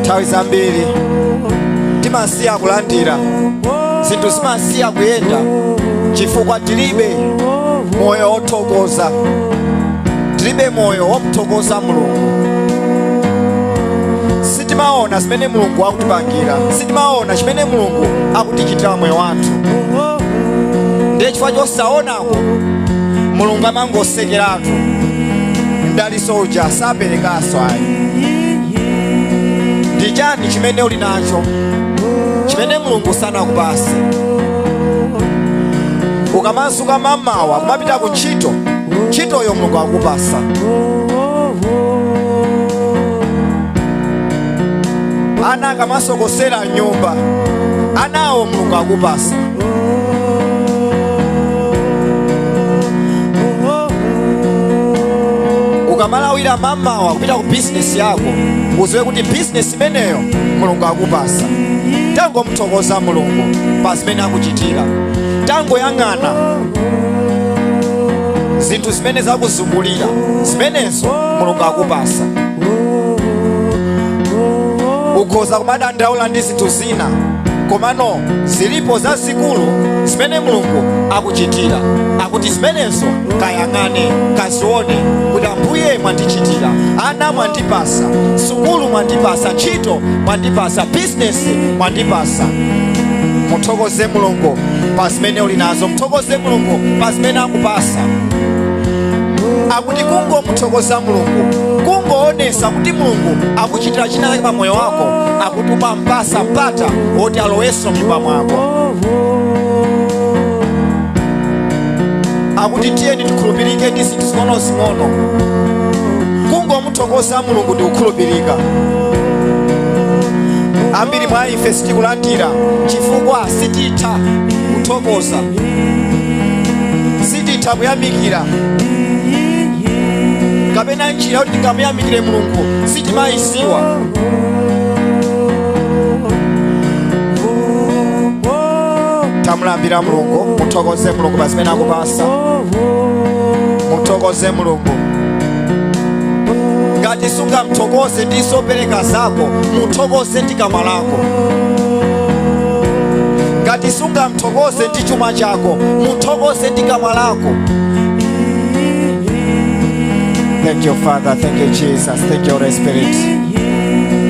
nthawi zambiri timasiya kulandira zinthu zimasiya kuyenda chifukwa tilibe moyo wothokoza tilibe moyo womuthokoza mulungu sitimaona zimene mulungu akutipangira sitimaona chimene mulungu akutichitira mmoyo wathu ndiye chifukwa chosaona mulungu amangosekeratu mdalitso uja saperekaso ayi ndi chani chimene uli nacho chimene mulungu sanakupase ukamazuka mamawa kumapita ku ntchito ntchitoyo mulungu akupasa ana akamasokosera mnyumba anawo mulungu akupasa ukamalawira mamawa kupita ku bizinesi yako uziwe kuti bizinesi imeneyo mulungu akupasa tangomuthokoza mulungu pa zimene akuchitira tangoyang'ana zinthu zimene zakuzungulira zimenezo mulungu akupasa ukhoza kumadandaula ndi zinthu zina komano zilipo zazikulu zimene mulungu akuchitira akuti zimenezo kayang'ane kazione kuti ambuye mwandichitira ana mwandipasa sukulu mwandipasa ntchito mwandipasa bizinesi mwandipasa muthokoze mulungu pa zimene uli nazo muthokoze mulungu pa zimene akupasa akuti kungomuthokoza mulungu kungoonesa kuti mulungu akuchitira china chake pa moyo wako akuti ukumpasa mpata woti alowenso mnyumba mwako akuti tiyeni tikhulupirike ndi zinthu zing'onozing'ono kungomuthokoza mulungu ndi kukhulupirika ambiri mwa ife sitikulandira chifukwa sititha kuthokoza sititha kuyamikira kapena njira yoti tingamuyamikire mulungu sitimayidziwa tamulambira mulungu muthokoze mulungu pa zimene akupasa muthokoze mulungu ngati sungamthokoze ndi zopereka zako muthokoze ndi kamwa lako ngati sungamthokoze ndi chuma chako muthokoze ndi kamwa lako thank you father thank you jesus Thank you, Holy Spirit.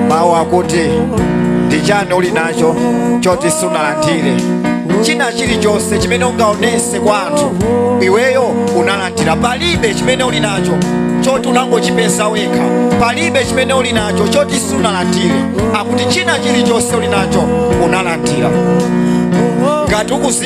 mawu akuti ndi chani uli nacho choti sunalandire china chilichonse chimene ungaonese kwa anthu iweyo unalandira palibe chimene uli nacho choti unangochipeza wekha palibe chimene uli nacho choti sunalandire akuti china chilichonse uli nacho unalandira ngati ukuzi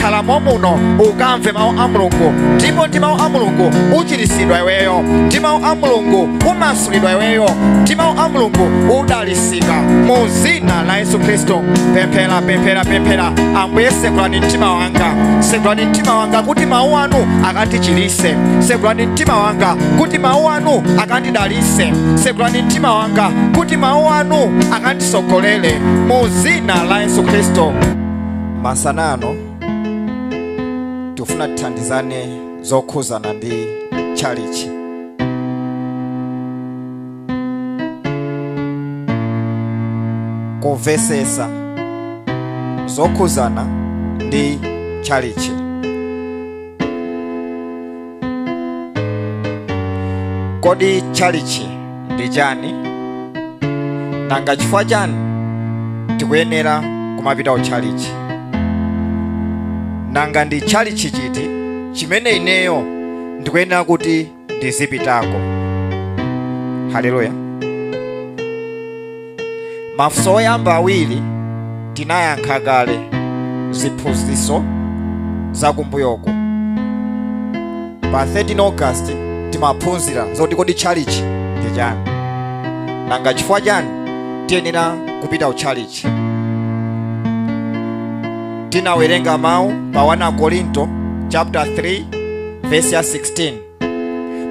khala momuno ukamve mawu a mulungu ndipo ndi mawu a mulungu uchiritsidwa iweyo ndi mawu a mulungu umasulidwa iweyo ndi mawu a mulungu udalisika mu dzina la yesu khristu pemphera pemphera pemphera ambuye segulani mtima wanga segulani mtima wanga kuti mawu anu akandichirise segulani mtima wanga kuti mawu anu akandidalise segulani mtima wanga kuti mawu anu akandisogolere mu dzina la yesu khristu Masana ano tikufuna tithandizane zokhuzana ndi tchalichi. Kumvesesa zokhuzana ndi tchalichi. kodi tchalichi ndi chani nanga chifukwa chani tikuyenera kumapita utchalichi nanga ndi tchalichi chiti chimene ineyo ndikuyenera kuti ndizipitako haleluya Mafunso oyamba awiri tinayankha kale ziphunzitso za kumbuyoko. Pa 13 August timaphunzira zoti kodi tchalichi ndi chani, nanga chifukwa chani tiyenera kupita ku tchalichi. Tinawerenga mawu pa 1 Akorinto chapter 3 verse ya 16.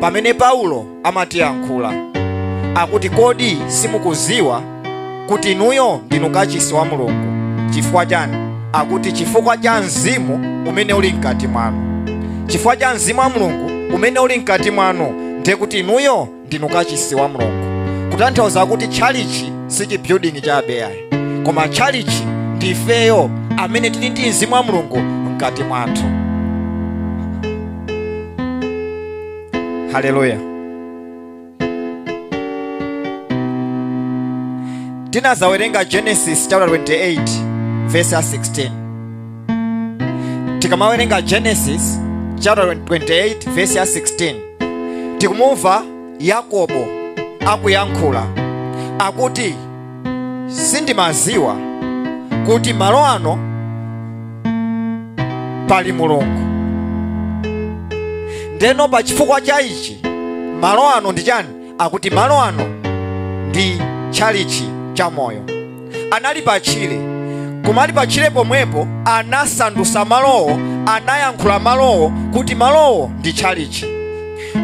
pamene Paulo amatiyankhula akuti, kodi simukuziwa kuti inuyo ndinu kachisi wa Mulungu? Chifukwa chani? Akuti chifukwa cha mzimu umene uli mkati mwanu. Chifukwa cha mzimu wa Mulungu umene uli mkati mwanu, ndiye kuti inuyo ndinu kachisi wa mulungu kutanthauza kuti tchalichi si chibuilding chabe ayi koma tchalichi ndi ifeyo amene tili ndi mzimu wa mulungu mkati mwathu haleluya tinazawerenga genesis chapter 28 verse ya 16 tikamawerenga genesis chapter 28 verse ya 16 tikumumva yakobo akuyankhula akuti sindimaziwa kuti malo ano pali mulungu ndeno pa chifukwa cha ichi malo ano ndi chani akuti malo ano ndi tchalichi cha moyo anali pa tchire koma ali pa tchire pomwepo anasandusa malowo anayankhula malowo kuti malowo ndi tchalichi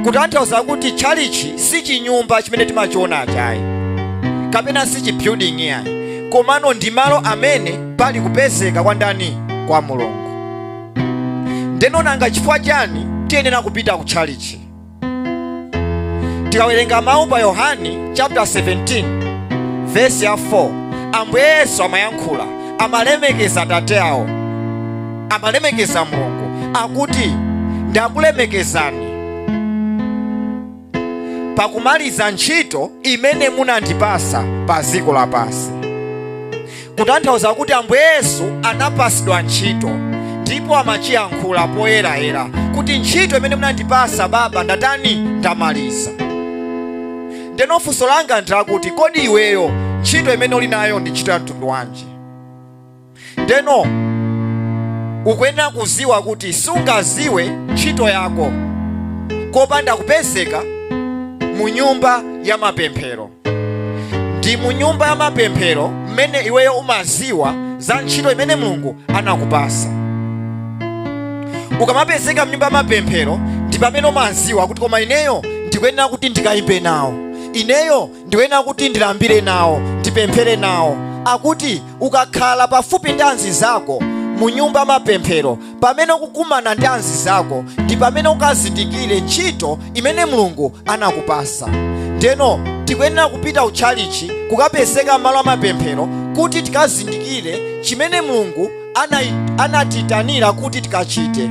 kutanthauza kuti tchalichi si chinyumba chimene timachionachi ayi kapena si chibuilding yayi komano ndi malo amene pali kupezeka kwa ndani kwa mulungu ndeno nanga chifukwa chani tiyenera kupita ku tchalichi tikawerenga mawu pa yohani chapter 17 vesi ya 4 ambuye yesu amayankhula amalemekeza atate awo amalemekeza mulungu akuti ndakulemekezani pakumaliza ntchito imene munandipasa pa dziko lapansi kutanthauza kuti ambuye yesu anapasidwa ntchito ndipo amachiyankhula poyerayera kuti ntchito imene munandipasa baba ndatani ndamaliza ndeno funso langa ndilakuti kodi iweyo ntchito imene uli nayo ndi ntchito ya mtundu wanji ndeno ukuyenera kuziwa kuti sungaziwe ntchito yako kopanda kupezeka mu nyumba ya mapemphero ndi mu nyumba ya mapemphero mmene iweyo umaziwa za ntchito imene mulungu anakupasa ukamapezeka mnyumba ya mapemphero ndi pamene umaziwa kuti koma ineyo ndikuyenera kuti ndikayimbe nawo ineyo ndikuyenera kuti ndilambire nawo ndipemphere nawo akuti ukakhala pafupi ndi anzi zako mu nyumba ya mapemphero pamene ukukumana ndi anzi zako ndi pamene ukazindikire ntchito imene mulungu anakupasa ndeno tikuyenera kupita utchalichi kukapezeka malo amapemphero kuti tikazindikire chimene mulungu anai- anatiitanira kuti tikachite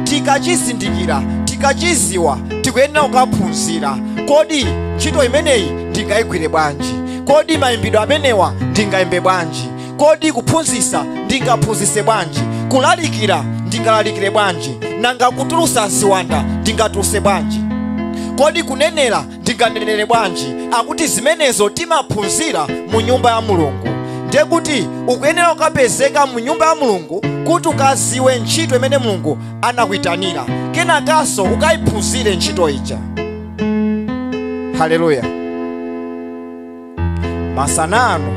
tikachizindikira tikachiziwa tikuyenera kukaphunzira kodi ntchito imeneyi ndingayigwire bwanji kodi mayimbidwe amenewa ndingayimbe bwanji kodi kuphunzisa ndingaphunzise bwanji kulalikira ndingalalikire bwanji nanga kutulusa ziwanda ndingatuluse bwanji kodi kunenera ndinganenere bwanji akuti zimenezo timaphunzira mu nyumba ya mulungu ndiye kuti ukuyenera kukapezeka mu nyumba ya mulungu kuti ukaziwe ntchito imene mulungu anakuyitanira kenakanso ukayiphunzire ntchito ija haleluya masana ano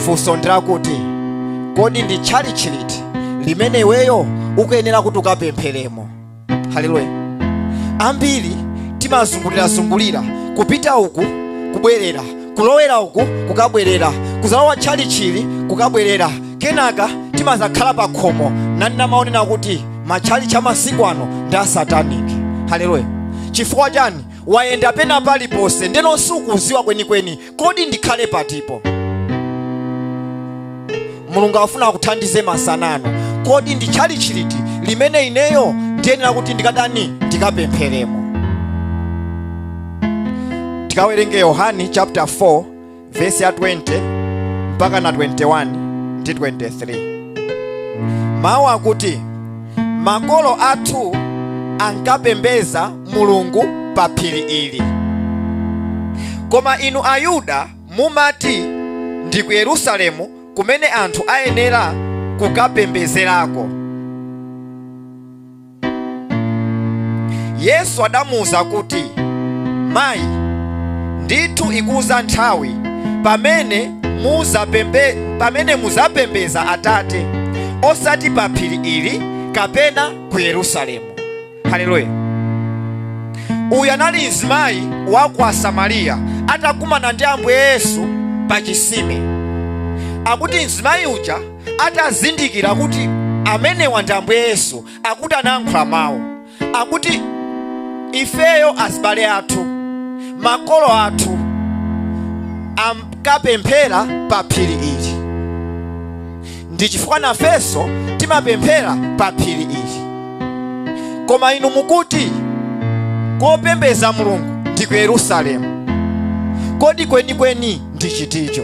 funso ndilakuti kodi ndi tchalitchi liti limene iweyo ukuyenera kuti ukapempheremo haleluya ambiri timazungulirazungulira kupita uku kubwerera kulowera uku kukabwerera kuzalowa tchalitchi ili kukabwerera kenaka timazakhala pa khomo n'kumanena kuti matchalitchi amasiku ano ndi asataniki haleluya chifukwa chani wayenda pena paliponse ndeno sukuziwa kwenikweni kodi ndikhale patipo mulungu afuna akuthandize masanano kodi ndi tchalitchi liti limene ineyo ndiyenera kuti ndikadani ndikapempheremo tikawerenge yohani chapter 4 vesi ya 20 mpaka na 21 ndi 23 mawu akuti makolo athu ankapembeza mulungu pa phiri ili koma inu ayuda mumati ndi ku yerusalemu kumene anthu ayenera kukapembezerako yesu adamuwuza kuti mayi ndithu ikuza nthawi pamene muzapembe pamene muzapembeza atate osati pa phiri ili kapena ku yerusalemu haleluya uyu anali mzimayi wa ku samariya atakumana ndi ambuye yesu pa chisime akuti mzimayi uja atazindikira kuti amenewa ndi ambuye yesu akuti anayankhula mawu akuti ifeyo azibale athu makolo athu ankapemphera pa phiri ili ndi chifukwa nafenso timapemphera pa phiri ili koma inu mukuti kopembeza mulungu ndi ku yerusalemu kodi kwenikweni ndi chiticho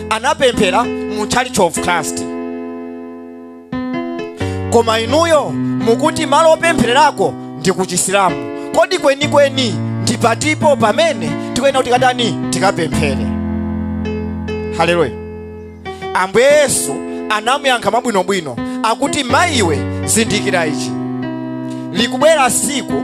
anapemphera mu church of christ koma inuyo mukuti malo opemphererako ndi ku chisilamu kodi kwenikweni ndi patipo pamene tikuyena kuti katani tikapemphere haleluya ambuye yesu anamuyankha mwabwinobwino akuti mayiwe zindikira ichi likubwera siku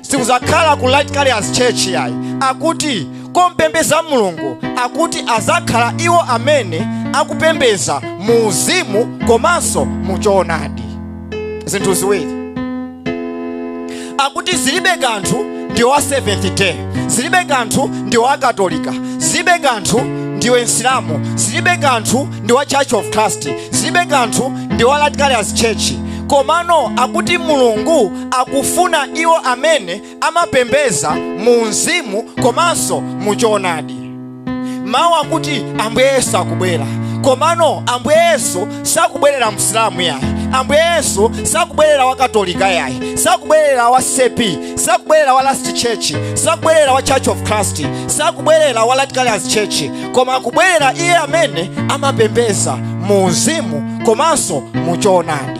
sikuzakhala ku light carriers church yayi akuti kopembeza mulungu akuti azakhala iwo amene akupembeza mu uzimu komanso mu choonadi zinthu ziwiri akuti zilibe kanthu ndiwe wa seventh day zilibe kanthu ndiwe wa katolika zilibe kanthu ndiwe msilamu zilibe kanthu ndi wa church of christ zilibe kanthu ndi wa light carriers church komano akuti mulungu akufuna iwo amene amapembeza mu mzimu komanso mu choonadi mawu akuti ambuye yesu akubwera komano ambuye yesu sakubwerera msilamu yayi ambuye yesu sakubwerera wa katolika yayi sakubwerera wa ccp sakubwerera wa last church sakubwerera wa church of christ sakubwerera wa light carriers church koma akubwerera iye amene amapembeza mu uzimu komanso mu choonadi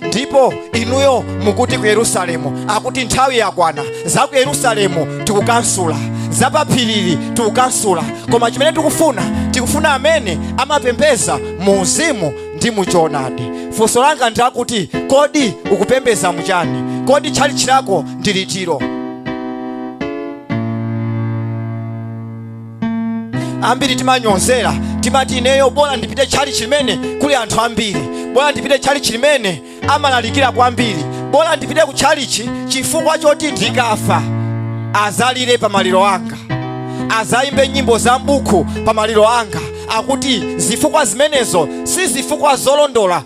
ndipo inuyo mukuti ku yerusalemu akuti nthawi yakwana za ku yerusalemu tikukansula za pa phiri ili tikukansula koma chimene tikufuna tikufuna amene amapembeza mu uzimu ndi mu choonadi funso langa ndi lakuti kodi ukupembeza muchani kodi tchalitchi lako ndi litiro ambiri timanyozera timati ineyo bora ndipite tchalichi limene kuli anthu ambiri bora ndipite tchalichi limene amalalikira kwambiri bora ndipite ku tchalichi chifukwa choti ndikafa azalire pa maliro anga azayimbe nyimbo za m'buku pa maliro anga akuti zifukwa zimenezo si zifukwa zolondola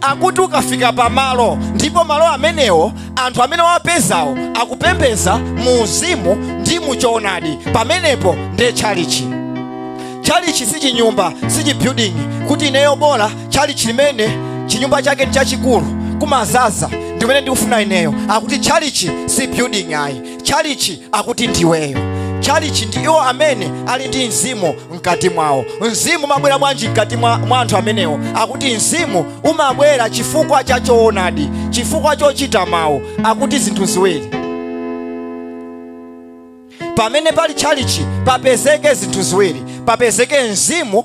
akuti ukafika pamalo ndipo malo amenewo anthu amene wapezawo akupembeza mu uzimu ndi mu choonadi pamenepo ndiye tchalichi tchalichi si chinyumba si chibuilding kuti ineyo bola tchalichi limene chinyumba chake ndi chachikulu kumazaza ndimene ndikufuna ineyo akuti tchalichi si building ayi chalichi akuti ndiweyo tchalichi ndi iwo amene ali ndi mzimu mkati mwawo mzimu umabwera bwanji mkati mwa anthu amenewo akuti mzimu umabwera chifukwa cha choonadi chifukwa chochita mawu akuti zinthu ziwiri pamene pali chalichi papezeke zinthu ziwiri papezeke mzimu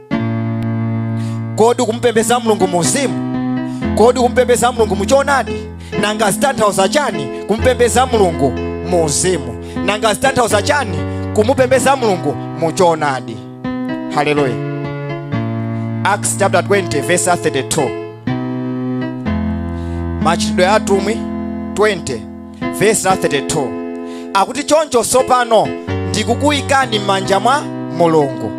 kodi kumupembeza mulungu muuzimu kodi kumupembeza mulungu muchonadi nanga zitanthauza chani kumupembeza mulungu muuzimu nanga zitanthauza chani kumupembeza mulungu muchonadi haleluya acts chapter 20 verse 32 machitidwe a atumwi 20 verse 32 akuti choncho tsopano ndikukuyikani m'manja mwa mulungu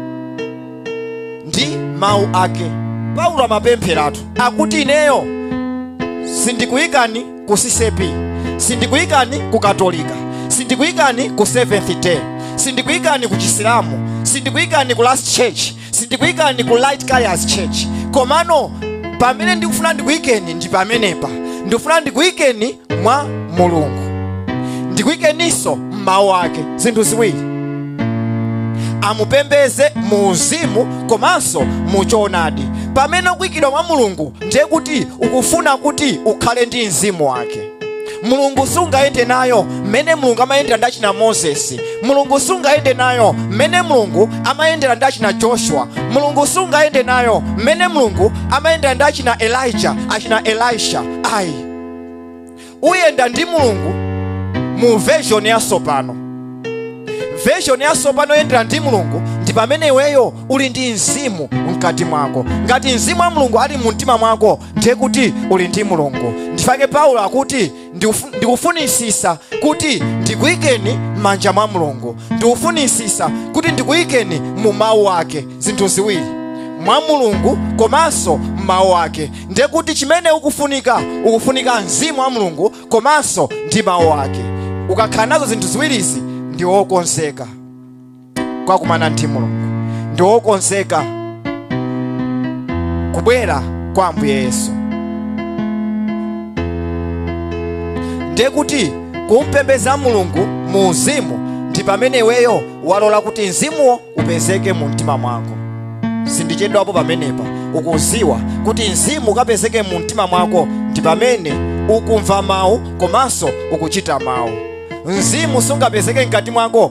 ndi mawu ake paulo amapempheratu akuti ineyo sindikuyikani ku ccp sindikuyikani ku katolika sindikuyikani ku seventh day sindikuyikani ku chisilamu sindikuyikani ku last church sindikuyikani ku light carriers church komano pamene ndikufuna ndikuyikeni ndi pamenepa ndikufuna ndikuyikeni mwa mulungu ndikuyikeninso m'mawu ake zinthu ziwiri amupembeze mu uzimu komanso mu choonadi pamene ukuyikidwa mwa mulungu ndiye kuti ukufuna kuti ukhale ndi mzimu wake mulungu sungayende nayo mmene mulungu amayendera ndi achina moses mulungu sungayende nayo mmene mulungu amayendera ndi achina joshua mulungu sungayende nayo mmene mulungu amayendera ndi achina elijah achina elisha ayi uyenda ndi mulungu mu version yatsopano version yatsopano yendera ndi mulungu ndi pamene iweyo uli ndi mzimu mkati mwako ngati mzimu wa mulungu ali mu mtima mwako ndiye kuti uli ndi mulungu ndifake paulo akuti ndikufunisisa kuti ndikuyikeni m'manja mwa mulungu ndikufunisisa kuti ndikuyikeni mu mawu ake zinthu ziwiri mwa mulungu komanso m'mawu ake ndiye kuti chimene ukufunika ukufunika mzimu wa mulungu komanso ndi mawu ake ukakhala nazo zinthu ziwirizi ndi wokonzeka kukakumana ndi mulungu ndi wokonzeka kubwera kwa ambuye yesu ndiye kuti kumpembeza mulungu mu uzimu ndi pamene iweyo walola kuti mzimuwo upezeke mu mtima mwako sindichedwapo pamenepa ukuziwa kuti mzimu ukapezeke mu mtima mwako ndi pamene ukumva mawu komanso ukuchita mawu mzimu sungapezeke mkati mwako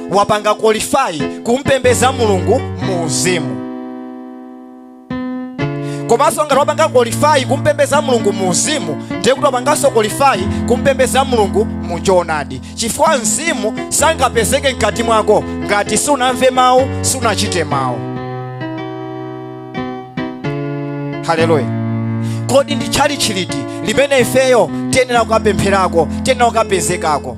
wapanga qualify kumpembeza mulungu mu uzimu komanso ngati wapanga qualify kumpembeza mulungu mu uzimu ndiye kuti wapanganso qualify kumpembeza mulungu mu choonadi chifukwa mzimu sangapezeke mkati mwako ngati sunamve mawu sunachite mawu haleluya kodi ndi tchalitchi liti limene ifeyo tiyenera kukapempherako tiyenera kukapezekako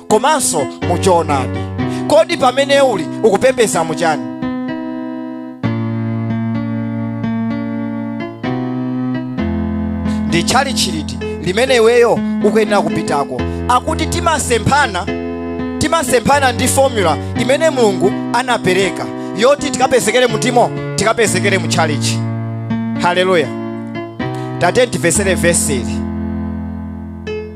komanso mu choonadi kodi pamene uli ukupembeza muchani ndi tchalitchi liti limene iweyo ukuyenera kupitako akuti timasemphana timasemphana ndi formula imene mulungu anapereka yoti tikapezekere mutimo tikapezekere mu tchalitchi haleluya tate tiverenge vesi ili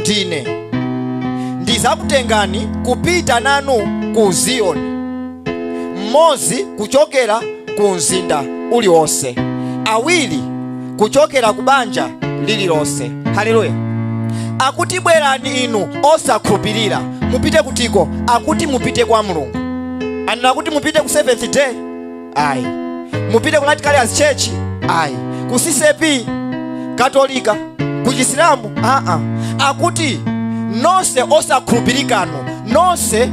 ndine ndizakutengani kupita nanu ku ziyoni mmodzi kuchokera ku mzinda uliwonse awiri kuchokera ku banja lililonse haleluya akuti bwerani inu osakhulupirira mupite kutiko akuti mupite kwa mulungu anena kuti mupite ku seventh day ayi mupite ku Light Carriers church ayi ku ccap katolika ku chisilamu aa akuti nonse osakhulupirikanu nonse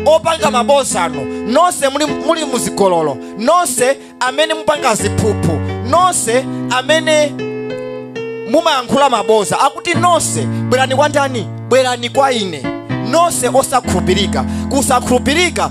opanga mabozanu nonse muli muzigololo nonse amene mupanga ziphuphu nonse amene mumayankhula maboza akuti nonse bwerani kwa ndani bwerani kwa ine nonse osakhulupirika kusakhulupirika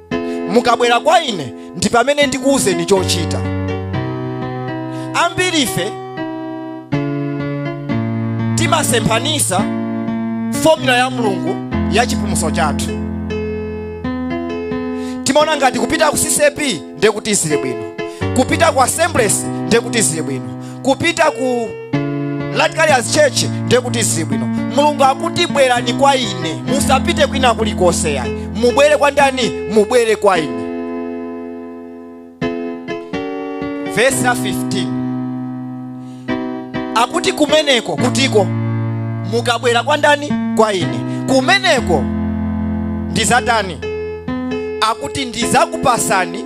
mukabwera kwa ine ndi pamene ndikuwuzeni chochita ambirife timasemphanisa fomula ya mulungu ya chipulumutso chathu timaona ngati kupita ku ccap ndiye kuti zili bwino kupita ku assemblies ndiye kuti zili bwino kupita ku Light Carriers church ndiye kuti zibwino mulungu akuti bwerani kwa ine musapite kwina kulikonse yayi mubwere kwa ndani mubwere kwa ine vesi la 15 akuti kumeneko kutiko mukabwera kwa ndani kwa ine kumeneko ndizatani akuti ndizakupasani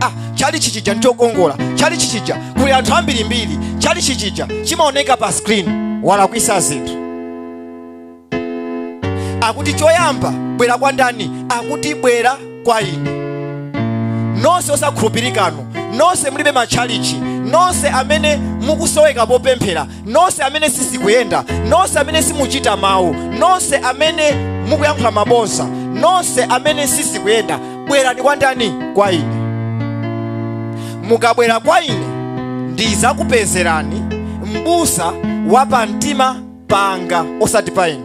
ah, chalichi chija nchokongola chalichi chija kuli anthu ambirimbiri chalichi chija chimaoneka pa screen walakwisa zinthu akuti choyamba bwera kwa ndani akuti bwera kwa ine nonse osakhulupirikanu nonse mulibe matchalichi nonse amene mukusoweka popemphera nonse amene sizikuyenda nonse amene simuchita mawu nonse amene mukuyankhula mabodza nonse amene sizikuyenda bwerani kwa ndani kwa ine mukabwera kwa ine ndizakupezerani m'busa wa pamtima panga osati pa inu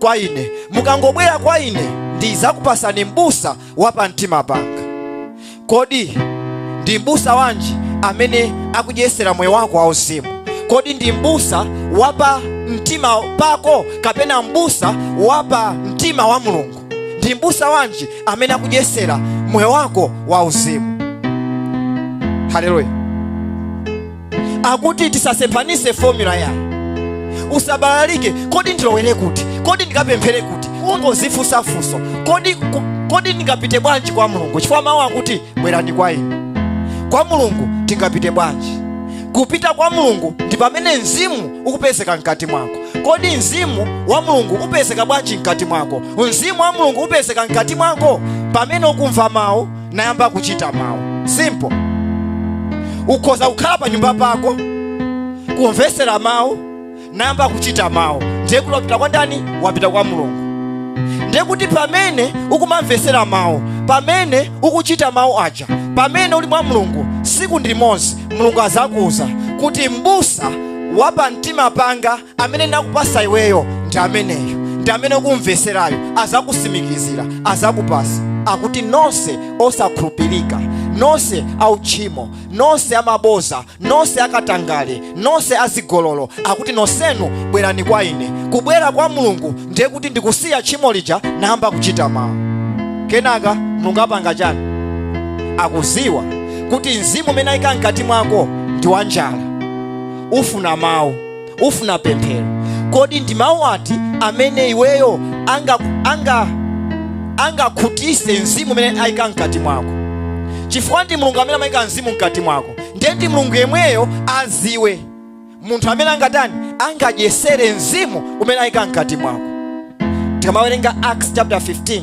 kwa ine mukangobwera kwa ine ndizakupasani m'busa wa pa mtima panga kodi ndi m'busa wanji amene akudyesera moyo wako wauzimu kodi ndi m'busa wa pa mtima pako kapena m'busa wa pa mtima wa mulungu ndi m'busa wanji amene akudyesera moyo wako wauzimu haleluya akuti tisasemphanise formula yayi usabalalike kodi ndilowere kuti kodi ndikapemphere kuti ungozifunsa funso kodi ndingapite bwanji kwa mulungu chifukwa mawu akuti bwerani kwa ine kwa mulungu tingapite bwanji kupita kwa mulungu ndi pamene mzimu ukupezeka mkati mwako kodi mzimu wa mulungu upezeka bwanji mkati mwako mzimu wa mulungu upezeka mkati mwako pamene ukumva mawu nayamba kuchita mawu simple ukhoza kukhala pa nyumba pako kumvetsera mawu nayamba kuchita mawu ndiye kuti wapita kwa ndani wapita kwa mulungu ndiye kuti pamene ukumamvetsera mawu pamene ukuchita mawu aja pamene uli mwa mulungu siku ndi limozi mulungu azakuuza kuti mbusa wa pamtima panga amene ndakupasa iweyo ndi ameneyo ndi amene ukumveserayo azakusimikizira azakupasa akuti nonse osakhulupirika nonse auchimo nonse amaboza nonse akatangale nonse azigololo akuti nonsenu bwerani kwa ine kubwera kwa mulungu ndiye kuti ndikusiya tchimo lija nayamba kuchita mawu kenaka mulungu apanga chani akuziwa kuti mzimu umene ayika mkati mwako ndi wanjala ufuna mawu ufuna pemphero kodi ndi mawu ati amene iweyo anga anga angakhutise mzimu umene ayika mkati mwako chifukwa ndi mulungu amene amayika mzimu mkati mwako ndiye ndi mulungu yemweyo aziwe munthu amene angatani angadyesere mzimu umene ayika mkati mwako tikamawerenga acts chapter 15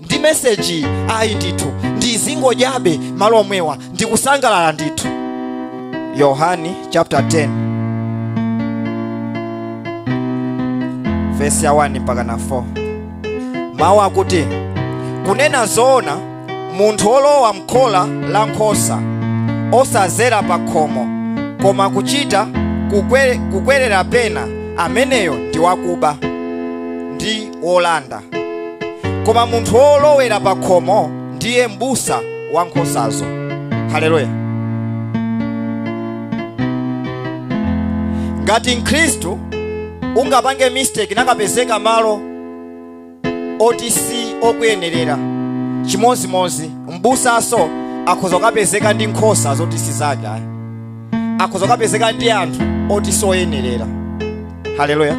ndi meseji ayi ndithu ndizingodyabe malo omwewa ndikusangalala ndithu yohani chapter 10 vesi ya 1 mpaka na 4 mawu akuti kunena zoona munthu wolowa mkhola la nkhosa osazera pa khomo koma kuchita kukwe- kukwerera pena ameneyo ndi wakuba ndi wolanda koma munthu wolowera pa khomo ndiye m'busa wa nkhosazo haleluya ngati mkhristu ungapange mistake nakapezeka malo oti si okuyenerera chimozimozi m'busaso akhoza kukapezeka ndi nkhosa zoti si zake ayi akhoza kukapezeka ndi anthu oti soyenerera haleluya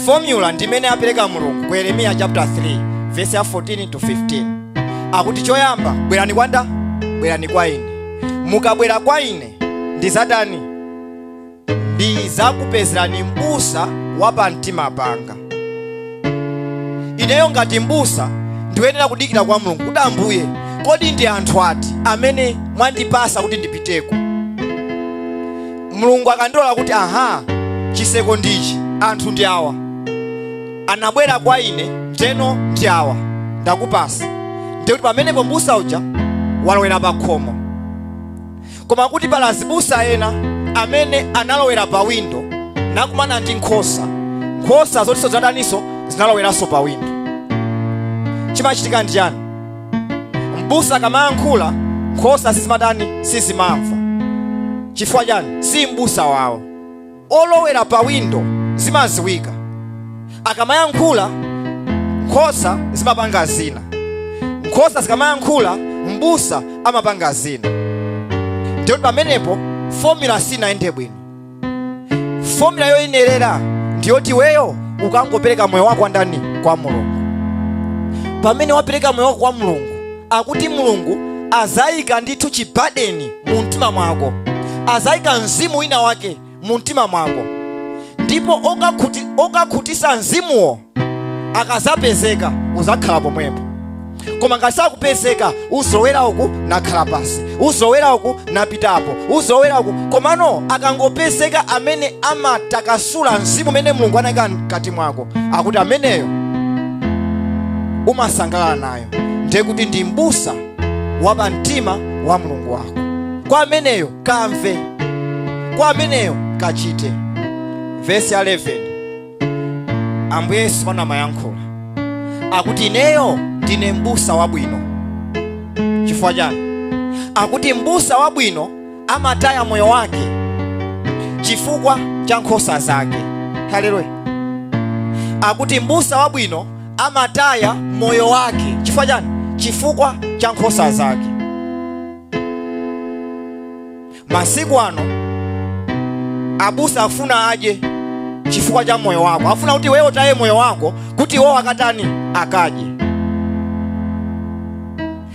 fomula ndimene apereka mulungu ku yeremiya chapter 3 verse ya 14 to 15 akuti choyamba bwerani kwa nda bwerani kwa ine mukabwera kwa ine ndizatani ndizakupezerani m'busa wa pamtima panga ineyo ngati m'busa ndiyenera kudikira kwa mulungu kuti ambuye kodi ndi anthu ati amene mwandipasa kuti ndipiteko mulungu akandilola kuti aha chiseko ndichi anthu ndi awa anabwera kwa ine ndeno ndi awa ndakupasa ndiye kuti pamenepo mbusa uja walowera pa khomo koma kuti pali azibusa ena amene analowera pa windo nakumana ndi nkhosa nkhosa zotinso zinataninso zinaloweranso pa windo chimachitika ndi chani mbusa akamayankhula nkhosa sizimatani sizimamva chifukwa chani si mbusa wawo olowera pa windo zimaziwika akamayankhula nkhosa zimapanga zina nkhosa zikamayankhula mbusa amapanga zina ndiyo pamenepo fomula sinayende bwino fomula yoyenerera ndiyoti weyo ukangopereka moyo wako kwa ndani kwa mulungu pamene wapereka moyo wako kwa mulungu akuti mulungu azayika ndithu chibadeni mu mtima mwako azayika mzimu wina wake mu mtima mwako ndipo okakhutisa mzimuwo akazapezeka uzakhala pomwepo koma ngati sakupezeka uzolowera uku nakhala pansi uzolowera uku napitapo uzolowera uku komano akangopezeka amene amatakasula mzimu umene mulungu anayika mkati mwako akuti ameneyo umasangalala naye ndiye kuti ndi m'busa wa pamtima wa mulungu wako kwa ameneyo kamve kwa ameneyo kachite vesi 11 ambuye yesu pano amayankhula akuti ineyo ndine m'busa wabwino chifukwa chani akuti m'busa wabwino amataya moyo wake chifukwa cha nkhosa zake haleluya akuti mbusa wabwino amataya moyo wake chifukwa chani chifukwa cha nkhosa zake masiku ano abusa afuna adye chifukwa cha moyo wako afuna kuti weyo utaye moyo wako kuti iwo akatani akadye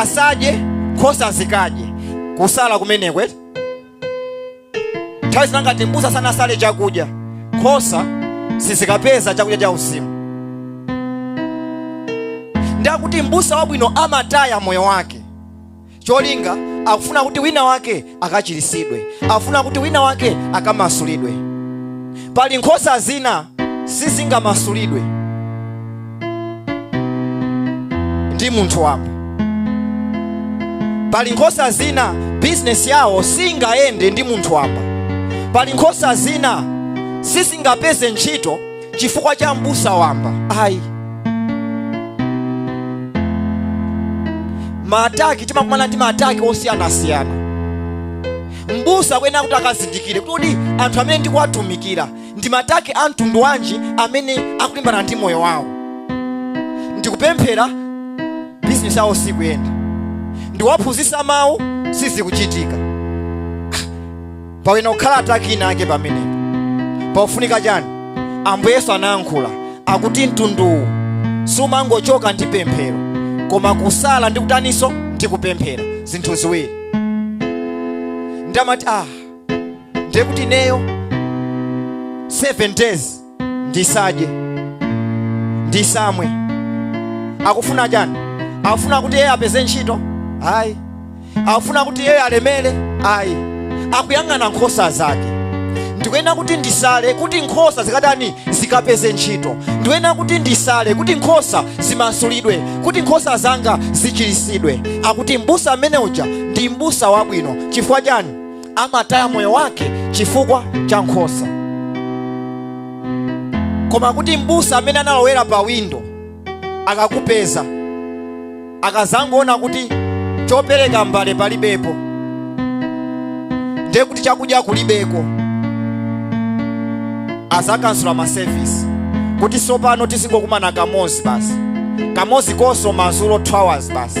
asadye nkhosa zikadye kusala kumeneko eti nthawi zina ngati mbusa sanasale chakudya nkhosa sizikapeza chakudya cha uzimu nde akuti mbusa wabwino amataya moyo wake cholinga akufuna kuti wina wake akachiritsidwe akufuna kuti wina wake akamasulidwe pali nkhosa zina sizingamasulidwe ndi munthu wamba pali nkhosa zina bizinesi yawo singayende ndi munthu wamba pali nkhosa zina sizingapeze ntchito chifukwa cha m'busa wamba ayi maataki timakumana ndi maataki osiyanasiyana m'busa akuyenera kuti akazindikire kuti anthu amene ndikuwatumikira ndi mataki a mtundu wanji amene akulimbana ndi moyo wawo ndikupemphera bizinesi yawo sikuyenda ndiwaphunzitsa mawu sizikuchitika pakuyenera kukhala ataki ina ake pamenepo pakufunika chani ambuye yesu anayankhula akuti mtunduwu sumangochoka ndi pemphero koma kusala ndi kutaninso ndi kupemphera zinthu ziwiri ndamati ah ndiye kuti ineyo 7 days ndisadye ndisamwe akufuna chani akufuna kuti iyeyo apeze ntchito ayi akufuna kuti iyeyo alemere ayi akuyang'ana nkhosa zake ndikuyenera kuti ndisale kuti nkhosa zikatani zikapeze ntchito ndikuyenera kuti ndisale kuti nkhosa zimasulidwe kuti nkhosa zanga zichiritsidwe akuti mbusa amene uja ndi mbusa wabwino chifukwa chani amataya moyo wake chifukwa cha nkhosa koma kuti m'busa amene analowera pa windo akakupeza akazangoona kuti chopereka mbale palibepo ndiye kuti chakudya kulibeko azakansula masevisi kuti sopano tizingokumana kamozi basi kamozi konso mazulo 2 hours basi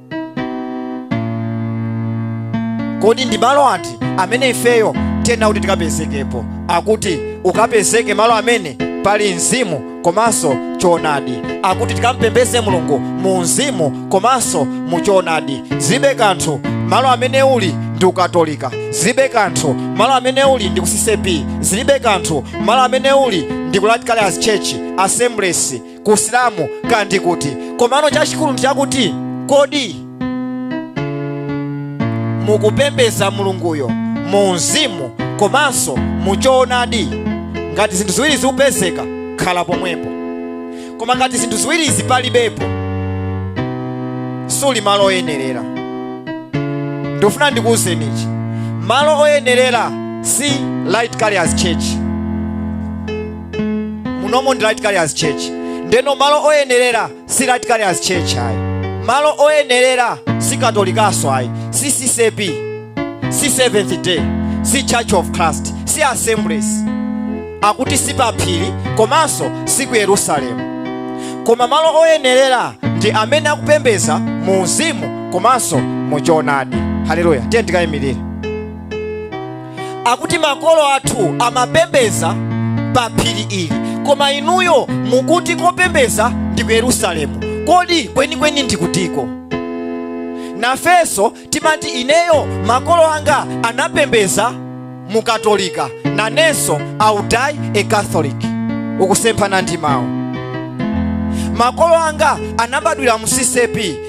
kodi ndi malo ati amene ifeyo tiyenera kuti tikapezekepo akuti ukapezeke malo amene pali mzimu komanso choonadi akuti tikampembeze mulungu mu mzimu komanso mu choonadi zilibe kanthu malo amene uli ndi ku katolika zilibe kanthu malo amene uli ndi ku ccap zilibe kanthu malo amene uli ndi ku light carriers church assemblies ku chisilamu kaya ndi kuti komano chachikulu ndi chakuti kodi mukupembeza mulunguyo mu mzimu komanso mu choonadi ngati zinthu ziwirizi zikupezeka khala pomwepo koma ngati zinthu ziwirizi palibepo suli malo oyenerera ndikufuna ndikuwuzeni ichi malo oyenerera si light carriers church munomo ndi light carriers church ndeno malo oyenerera si light carriers church ayi malo oyenerera si katolikaso ayi si ccap si seventh day si church of christ si assemblies akuti si paphiri komanso si ku yerusalemu koma malo oyenerera ndi amene akupembeza mu uzimu komanso mu choonadi haleluya tiyeni tikayimirire akuti makolo athu amapembeza pa phiri ili koma inuyo mukuti kopembeza ndi ku yerusalemu kodi kwenikweni ndikutiko nafenso timati ineyo makolo anga anapembeza mu katolika nanenso I will die a catholic ukusemphana ndi mawu makolo anga anabadwira mu ccap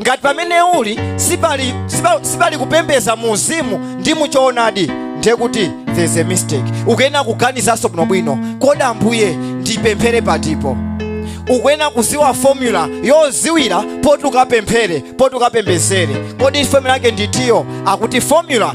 ngati pamene uli sipali kupembeza mu mzimu ndi mu choonadi ndiye kuti there's a mistake ukuyena kuganizanso bwinobwino kodi ambuye ndipemphere patipo ukuyena kuziwa formula yoziwira poti ukapemphere poti ukapembezere kodi formula yake nditiyo akuti formula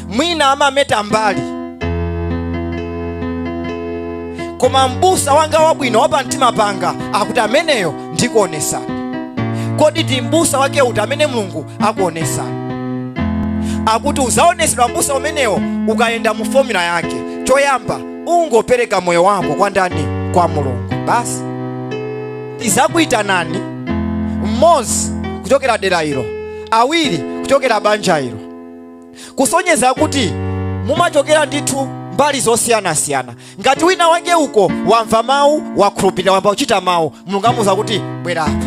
mwina amameta mbali koma mbusa wanga wabwino wapamtima panga akuti ameneyo ndikuonesani kodi ndi mbusa wake uti amene mulungu akuonesani akuti uzaonesedwa mbusa umenewo ukayenda mu fomula yake choyamba ungopereka moyo wako kwa ndani kwa mulungu basi ndizakuyitanani mmodzi kuchokera dera ilo awiri kuchokera banja ilo kusonyeza kuti mumachokera ndithu mbali zosiyanasiyana ngati wina wake uko wamva mawu wakhulupirira wamba kuchita mawu mulungu amuuza kuti bwera apa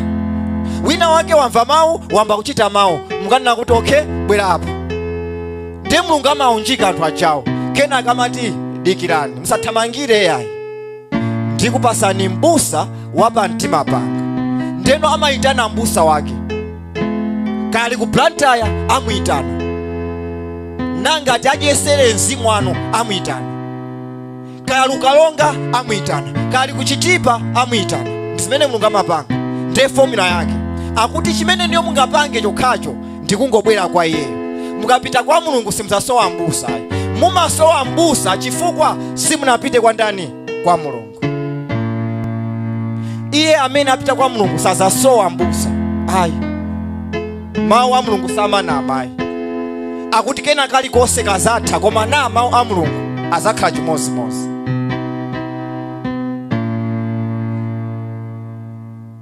wina wake wamva mawu wamba kuchita mawu mulungu anena kuti okay bwera apa ndiye mulungu amaunjika anthu achawo kenaka amati dikirani musathamangire yayi ndikupasani mbusa wa pa mtima panga ndeno amayitana mbusa wake kaya ali ku blantyre amuyitana nkhani ngati adyesere mzimu wanu amuyitana kaya ali ku karonga amuyitana kaya ali ku chitipa amuyitana ndizimene mulungu amapanga ndiye fomula yake akuti chimene inuyo mungapange chokhacho ndikungobwera kwa iyeyo mukapita kwa mulungu simuzasowa mbusa ayi mumasowa mbusa chifukwa simunapite kwa ndani kwa mulungu iye amene apita kwa mulungu sazasowa mbusa ayi mawu a mulungu samanama ayi akuti kena kalikonse kazatha koma na mawu a mulungu azakhala chimodzimodzi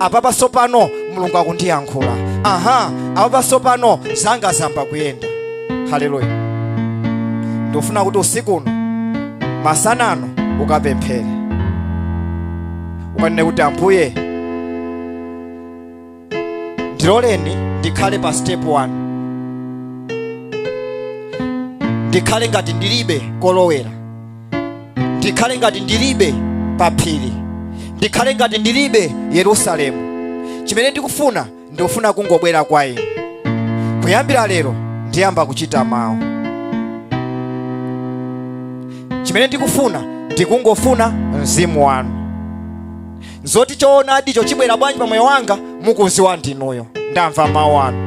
apapa sopano mulungu akundiyankhula aha apapa sopano zanga zamba kuyenda haleluya ndikufuna kuti usiku uno masana ano ukapemphere ukanene kuti ambuye ndiloleni ndikhale pa step 1 ndikhale ngati ndilibe kolowera ndikhale ngati ndilibe pa phiri ndikhale ngati ndilibe yerusalemu chimene ndikufuna ndikufuna kungobwera kwa inu kuyambira lero ndiyamba kuchita mawu chimene ndikufuna ndikungofuna mzimu wanu zoti choonadicho chibwera bwanji pa moyo wanga mukuziwa ndinuyo ndamva mawu anu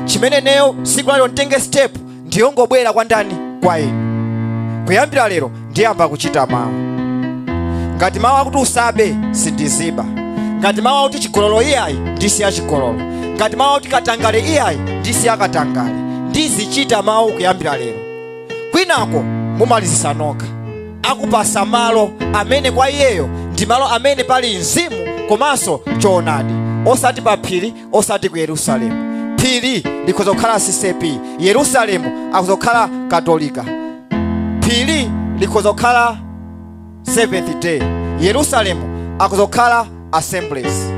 chimene neyo tsiku la lero nditenge step ndiyongobwera kwa ndani kwa inu kuyambira lero ndiyamba kuchita mawu ngati mawu akuti usabe sindiziba ngati mawu akuti chigololo iyayi ndisiya chigololo ngati mawu akuti katangale iyayi ndisiya katangale ndizichita mawu kuyambira lero kwinako mumalizisa nokha akupasa malo amene kwa iyeyo ndi malo amene pali mzimu komanso choonadi osati pa phiri osati ku yerusalemu phiri likhoza kukhala ccp yerusalemu akhoza kukhala katolika phiri likhoza kukhala seventh day yerusalemu akhoza kukhala assemblies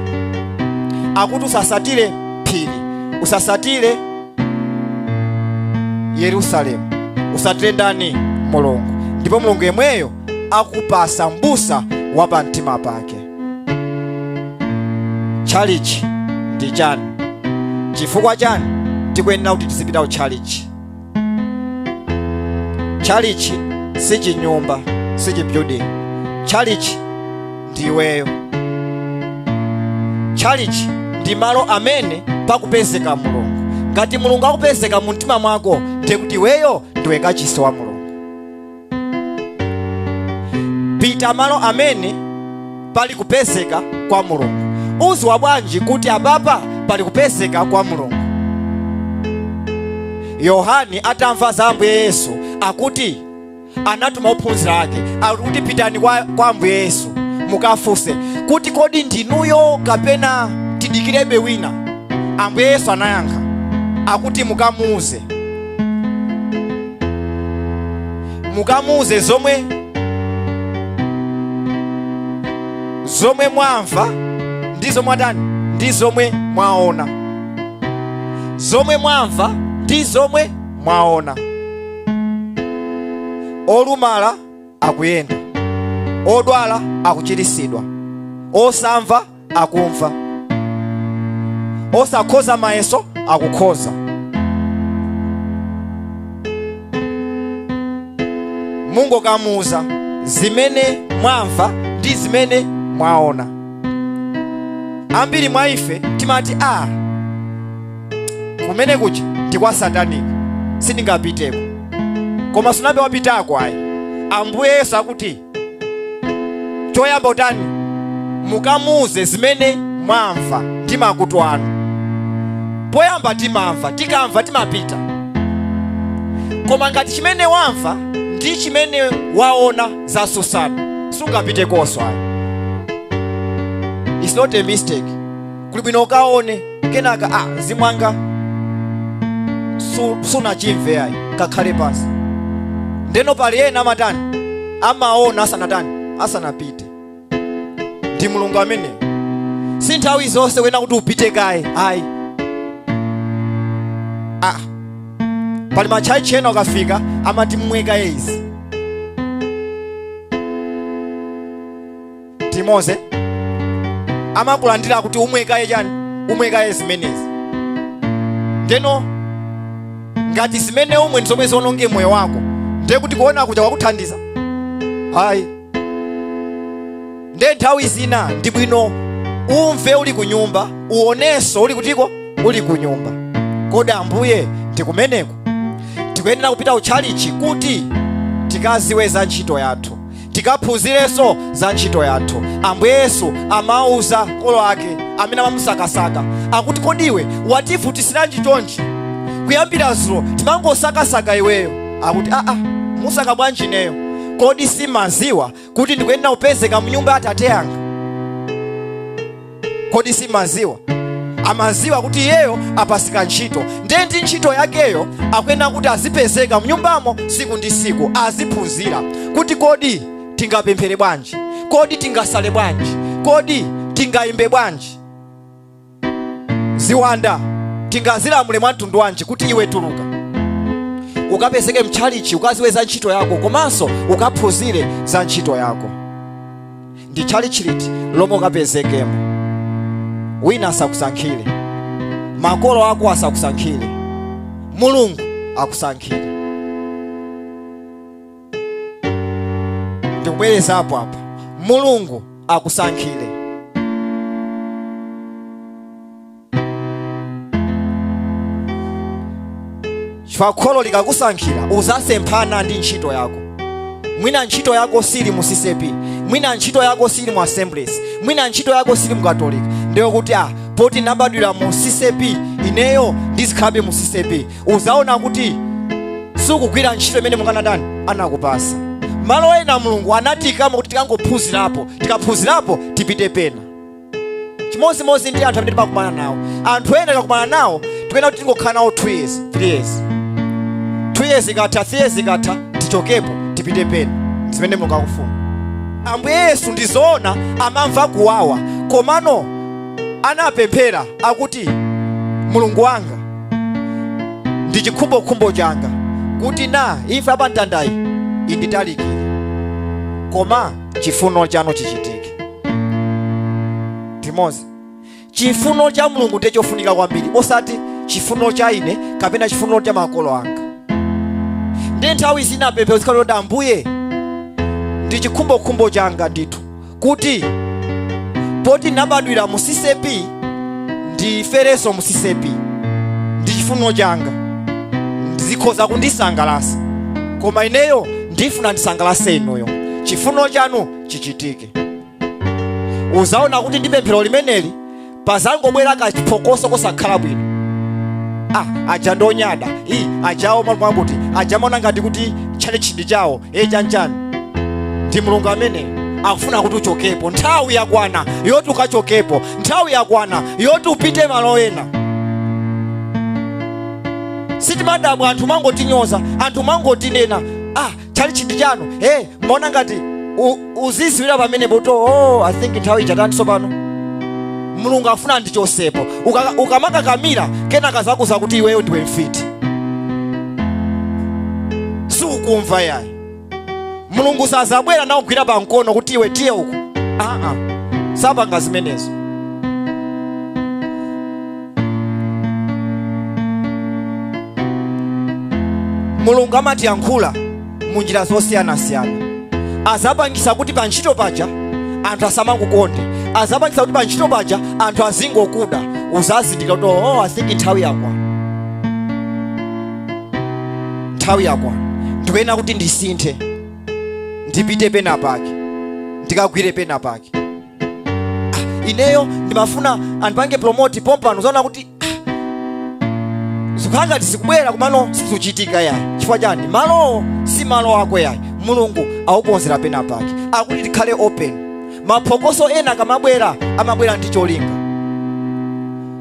akuti usasatire phiri usasatire yerusalemu usatire ndani mulungu ndipo mulungu yemweyo akupasa mbusa wa pamtima pake tchalichi ndi chani chifukwa chani tikuyenera kuti tizipita ku tchalichi tchalichi si chinyumba si chibuilding tchalichi ndi iweyo tchalichi ndi malo amene pakupezeka mulungu ngati mulungu akupezeka mu mtima mwako ndiye kuti iweyo ndiwe kachisi wa mulungu pita malo amene pali kupezeka kwa mulungu uziwa bwanji kuti apapa pali kupezeka kwa mulungu yohani atamva za ambuye yesu akuti anatuma ophunzira ake akuti pitani kwa, kwa ambuye yesu mukafunse kuti kodi ndinuyo kapena tidikirebe wina ambuye yesu anayankha akuti mukamuuze mukamuuze zomwe zomwe mwamva ndi zomwe mwatani ndi zomwe mwaona zomwe mwamva ndi zomwe mwaona olumala akuyenda odwala akuchiritsidwa osamva akumva osakhoza mayeso akukhoza mungokamuuza zimene mwamva ndi zimene mwaona ambiri mwa ife timati a kumene kuja ndi kwa sataniki sindingapiteko koma sunabe wapitako ayi ambuye yesu akuti choyamba utani mukamuuze zimene mwamva ndi makutu anu poyamba timamva tikamva timapita koma ngati chimene wamva ndi chimene waona zasusana sungapitekoso ayi it's not a mistake kuli bwino ukaone kenaka a ah, zimwanga su- sunachimve ayi kakhale pansi ndeno pali ena amatani amaona asanatani asanapite ndi mulungu amene si nthawi zonse kuyenera kuti upite kaye ayi ah. pali matchalitchi ena ukafika amati mmweka izi timoze amakulandira kuti umwe kaye chani umwe kaye zimenezi ndeno ngati zimene umwe ndizomwe ziononge moyo wako ndiye kuti kuona kuja kwakuthandiza ayi nde nthawi zina ndi bwino umve uli ku nyumba uonenso uli kutiko uli ku nyumba kodi ambuye ndikumeneko ndikuyenera kupita ku tchalichi kuti tikaziwe za ntchito yathu tikaphunzirenso za ntchito yathu ambuye yesu amauza makolo ake amene amamusakasaka akuti kodi iwe wativutisiranji chonchi kuyambira zulo timangosakasaka iweyo akuti aa mumasaka bwanji ineyo kodi simaziwa kuti ndikuyenera kupezeka mnyumba ya atate anga kodi simaziwa amaziwa kuti iyeyo apasika ntchito ndiye ndi ntchito yakeyo akuyenera kuti azipezeka mnyumbamo siku ndi siku aziphunzira kuti kodi tingapemphere bwanji kodi tingasale bwanji kodi tingayimbe bwanji ziwanda tingazilamule mwa mtundu wanji kuti iwe tuluka ukapezeke mtchalichi ukaziwe za ntchito yako komanso ukaphunzire za ntchito yako ndi tchalitchi liti lomwe ukapezekemo wina asakusankhire makolo ako asakusankhire mulungu akusankhire ndikubwereza apo apa mulungu akusankhire chifukwa kholo likakusankhira uzasemphana ndi ntchito yako mwina ntchito yako sili mu ccap mwina ntchito yako sili mu assemblies mwina ntchito yako sili mu katolika ndiyo kuti ah poti ndinabadwira mu ccap ineyo ndizikhalabe mu ccap uzaona kuti sukugwira ntchito imene mukanadani anakupasa malo ena mulungu anatiikamo kuti tikangophunzirapo tikaphunzirapo tipite pena chimodzimodzi ndi anthu amene timakumana nawo anthu ena tikakumana nawo tikuyena kuti tingokhala nawo 2 years 3 years 2 years ikatha 3 years ikatha tichokepo tipite pena zimene mulungu akufuna ambuye yesu ndizoona amamva kuwawa komano anapemphera akuti mulungu wanga ndi chikhumbokhumbo changa kuti na imfa yapamtandayi inditalikire koma chifuno chanu chichitike ndimomwe chifuno cha mulungu ndiye chofunika kwambiri osati chifuno cha ine kapena chifuno cha makolo anga nde nthawi zina pemphero lizikhala loti ambuye ndi chikhumbokhumbo changa ndithu kuti poti nabadwira mu ccap ndiferenso mu ccap ndi chifuno changa ndi zikhoza kundisangalatsa koma ineyo ndifuna ndisangalatse inuyo chifuno chanu chichitike uzaona kuti ndi pemphero limeneli pazangobwera kachiphokoso kosakhala bwino ah, aja ndonyada i ajawo amamva kuti aja amaona ngati kuti tchalitchi ndi chawo e chanjani ndi mulungu amene akufuna kuti uchokepo nthawi yakwana yoti uchokepo nthawi yakwana yoti upite malo ena sitimadabwa anthu mangotinyoza anthu mangotinena ah tchalitchi ndi chanu e mmaona ngati u- uzisiwira pamene poto oh, i think nthawi ija yatani tsopano mulungu afuna andichosepo Uka- ukamakakamira kenaka azakuuza kuti iweyo ndiwe mfiti siukumva yayi mulungu sazabwera nakugwira pa mkono kuti iwe tiye uku aa sapanga zimenezo mulungu amatiyankhula mu njira zosiyanasiyana azapangisa kuti pa ntchito paja anthu asamakukonde azapangisa kuti pa ntchito paja anthu azingokuda uzazindika kuti oh, i think nthawi yakwa nthawi yakwa ndikuyena kuti ndisinthe ndipite pena pake ndikagwire pena pake ineyo ndimafuna andipange promote pompano uzaona kuti zikukhala ngati zikubwera komano sizikuchitika yayi chifukwa chani malowo si malo ako yayi mulungu akukonzera pena pake nde kuti tikhale open maphokoso ena akamabwera amabwera ndi cholinga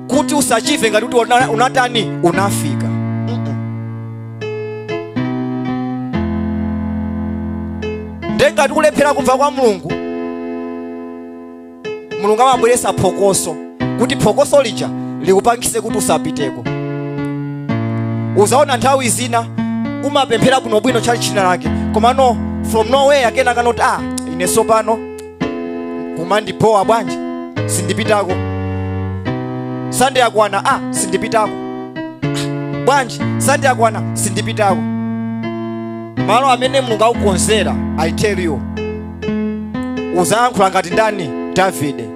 kuti usachite ngati kuti una- unatani unafika nde ngati ukulephera kumva kwa mulungu mulungu amabweresa phokoso kuti phokoso lija likupangise kuti usapiteko uzaona nthawi zina umapemphera bwinobwino tchalitchi china chake komano from nowhere kenako noti ah ine sopano kumandibowa bwanji sindipitako sande yakwana a ah, sindipitako ah, bwanji sande yakwana sindipitako malo amene mulungu akukonzera i tell you uzayankhula ngati ndani davide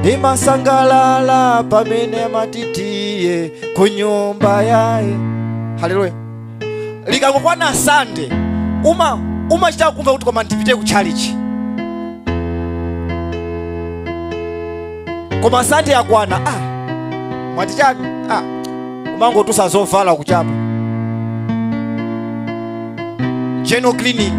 ndimasangalala pamene amatitiye ku nyumba yaye haleluya likangokwana sande umachita kumva kuti koma ndipite ku chalichi koma sande yakwana ah, mwati chani ah, umangotusa zovala kuchapa general cleaning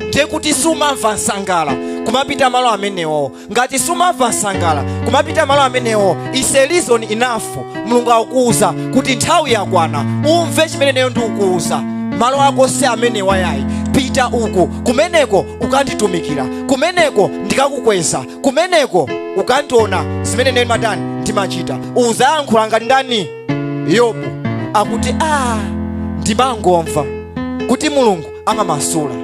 ndiye kuti sumamva nsangala kumapita malo amenewo ngati sumamva nsangala kumapita malo amenewo is a reason enough mulungu akukuuza kuti nthawi yakwana umve chimene neyo ndikukuuza malo ako si amenewa yayi pita uku kumeneko ukanditumikira kumeneko ndikakukweza kumeneko ukandiona zimene neyo matani ndimachita uzayankhula ngati ndani yobu akuti aa ndimangomva kuti mulungu amamasula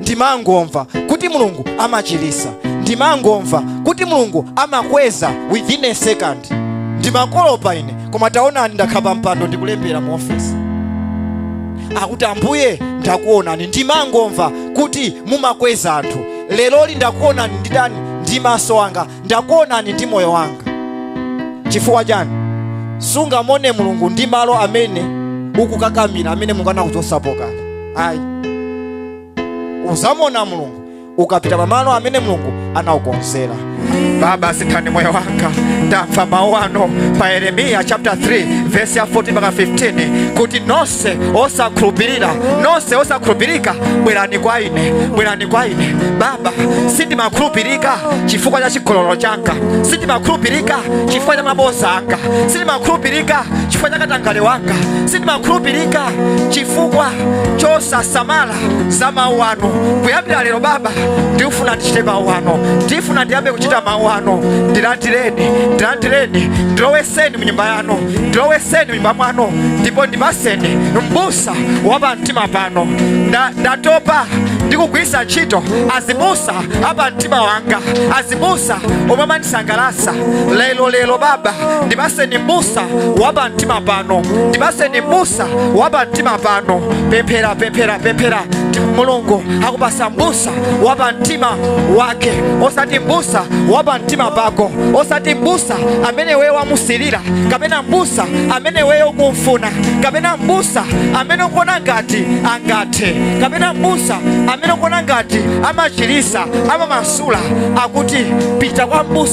ndimangomva kuti mulungu amachilisa ndimangomva kuti mulungu amakweza within a second ndimakolopa ine koma taonani ndakhala pampando ndikulembera mu ofesi akuti ambuye ndakuonani ndimangomva kuti mumakweza anthu leroli ndakuonani ndi tani ndi maso anga ndakuonani ndi moyo wanga chifukwa chani sungamone mulungu ndi malo amene ukukakamira amene mulungu anakuchotsapo kale ayi uzamona mulungu ukapita pamalo amene mulungu anaukonzera baba sinthani moyo wanga ndamva mawu anu pa yeremiya chapter 3 verse ya 14 mpaka 15 kuti nonse nonse osakhulupirira nonse osakhulupirika bwerani kwa ine bwerani kwa ine baba sindimakhulupirika chifukwa cha chigololo changa sindimakhulupirika chifukwa cha mabodza anga sindimakhulupirika chifukwa cha katangale wanga sindimakhulupirika chifukwa chosasamala za mawu anu kuyambira lero baba ndifuna ndichite mawu anu ndifuna ndiyambe kuchita mawu anu ndilandireni ndilandireni ndiloweseni mu nyumba yanu ndiloweseni pamtima pano ndipo ndipaseni mbusa wa pamtima pano Nda- ndatopa ndikugwirisa ntchito azibusa apa mtima wanga azibusa omwe amandisangalatsa lero lero baba ndipaseni mbusa wa pamtima pano ndipaseni mbusa wa pamtima pano pemphera pemphera pemphera mulungu akupasa mbusa wa pa mtima wake osati mbusa wa pa mtima pako osati mbusa amene weyo wamusilira kapena mbusa amene weyo ukumfuna kapena mbusa amene ukuona ngati angathe kapena mbusa amene ukuona ngati amachilisa amamasula akuti pita kwa mbusa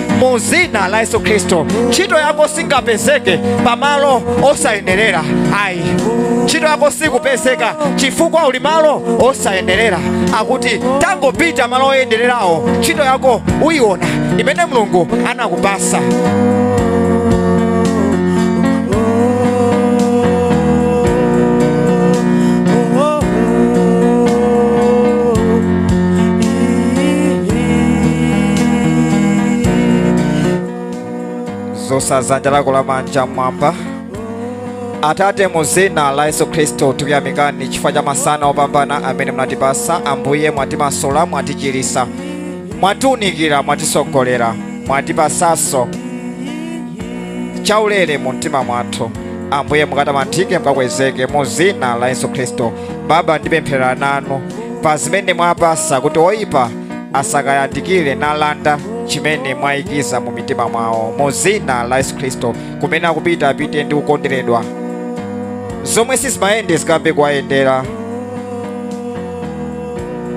mu dzina la yesu khristu ntchito yako singapezeke pamalo osayenerera ayi ntchito yako sikupezeka chifukwa uli malo osayenerera akuti tangopita malo oyenererawo ntchito yako uyiona imene mulungu anakupasa zosa zanja lako la manja mmwamba atate mu zina la yesu khristu tikuyamikani chifukwa cha masana opambana amene munatipasa ambuye mwatimasula mwatichirisa mwatiunikira mwatisogolera mwatipasaso chaulere mu mtima mwathu ambuye mukatamandike mukakwezeke mu zina la yesu khristu Baba, ndipemphera nanu pa zimene mwapasa kuti oyipa asakayandikire n'kulanda chimene mwayikiza mu mitima mwawo mu zina la Yesu Khristu kumene akupita apite ndi kukonderedwa zomwe sizimayende zikayambe kuwayendera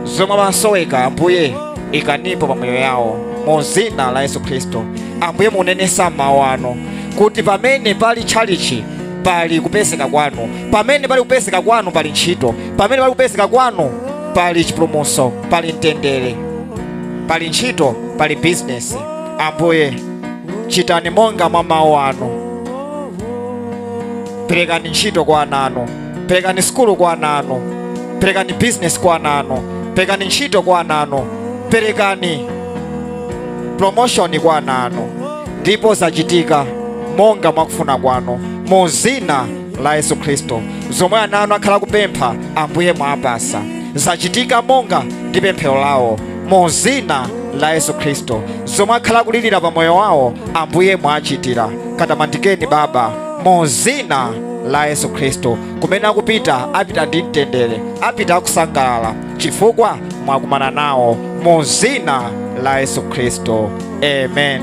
zomwe amasoweka ambuye ikanipo pa moyo yawo mu zina la Yesu Khristu ambuye munanena m'mawu anu kuti pamene pali tchalichi pali kupezeka kwanu pamene pali kupezeka kwanu pali ntchito pamene pali kupezeka kwanu pali chipulumutso pali mtendere pali ntchito pali bizinesi ambuye chitani monga mwa mawu anu perekani ntchito kwa ana anu perekani sukulu kwa ana anu perekani bizinesi kwa ana anu perekani ntchito kwa ana anu perekani promotion kwa ana anu ndipo zachitika monga mwakufuna kwanu mu zina la yesu khristu zomwe ana anu akhala kupempha ambuye mwapasa zachitika monga ndi pemphero lawo mu zina la yesu khristu zomwe akhala kulilira pa moyo wawo ambuye mwachitira katamandikeni baba mu zina la yesu khristu kumene akupita apita ndi mtendere apita akusangalala chifukwa mwakumana nawo mu zina la yesu khristu amen